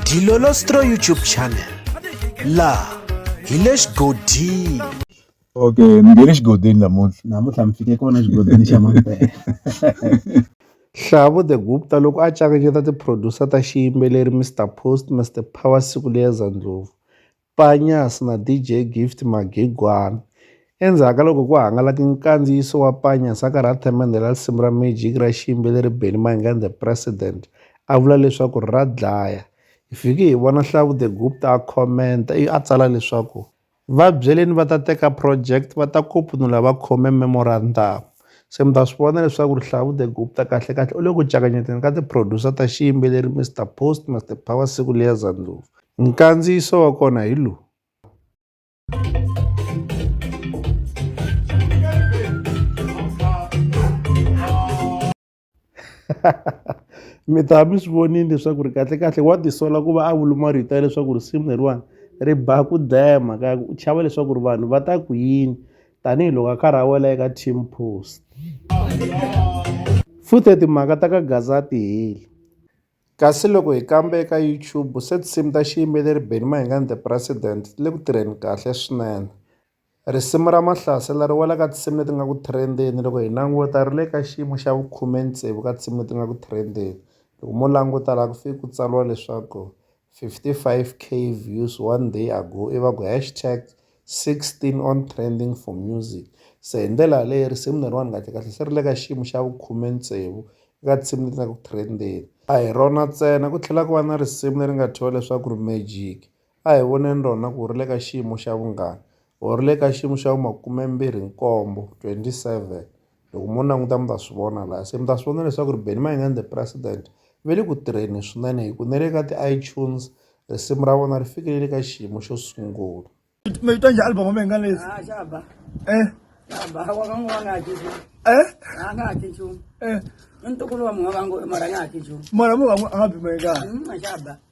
Dilolostro YouTube channel laha hi le xigodini okay mi nge le xigodini namuntlha namuntlha mi fike kona xigodini xa mampela Hlavu the Gupta loko a cakanyeta ti-producer ta xiyimbeleri Mister Post Mister Power siku leri za Ndlovu Panya's na DJ Gift Magegwani. Endzhaku ka loko ku hangalake nkandziyiso wa Panya's a karhi a themendhela risimu ra Magic ra xiyimbeleri Benny Mayinga and the President a vula leswaku ra dlaya. Hi fike hi vona Hlavu the Gupta a khomenta ivi a tsala leswaku, Va byeleni va ta teka project va ta kopunula va khome memorandamu. se mi ta swi vona leswaku rihlavu the gupta kahle kahle u le ku cakanyeteni ka ti-producer ta xiyimbeleri mr post mr power siku liya zandlovu nkandziyiso wa kona hi lowu mi ta mi swi vonile leswaku ri kahlekahle wa tisola ku va a vuluma rito ya leswaku risimu leriwani ri ba ku dlaya mhaka ya ku u chava leswaku ri vanhu va ta ku yini tanihiloko a karhi a wela eka team post futhe timhaka ta ka gaza a ti heli kasi loko hi kambe eka youtube se tinsimu ta xiyimbeleri benny mahingani the president ti le ku tirheni kahle swinene Risimu ra Mahlasela ri wela ka tinsimu leti nga ku trend-eni loko hi languta ri le ka xiyimo xa vukhume tsevu ka tinsimu leti nga ku trend-eni loko mo languta laha ku fike ku tsariwa leswaku fifty five K views one day ago i va ku hash tag sixteen on trending for music se hi ndlela yaleyo risimu leriwani kahle kahle se ri le ka xiyimo xa vukhume tsevu eka tinsimu leti nga ku trend-eni a hi rona ntsena ku tlhela ku va na risimu leri nga thyiwa leswaku ri magic a hi voneni rona ku ri le ka xiyimo xa vungani or ri le ka xiyimo xa vu makumembirhi nkombo twenty seven loko mo languta mi ta swi vona laha se mi ta swi vona leswaku ri Benny Mayengani the president ve le ku tirheni swinene hi ku ne le ka ti-iTunes risimu ra vona ri fikelele ka xiyimo xo sungula mavito njhe album mi nga lesi eh eh mara mu va mu nga byi mayengani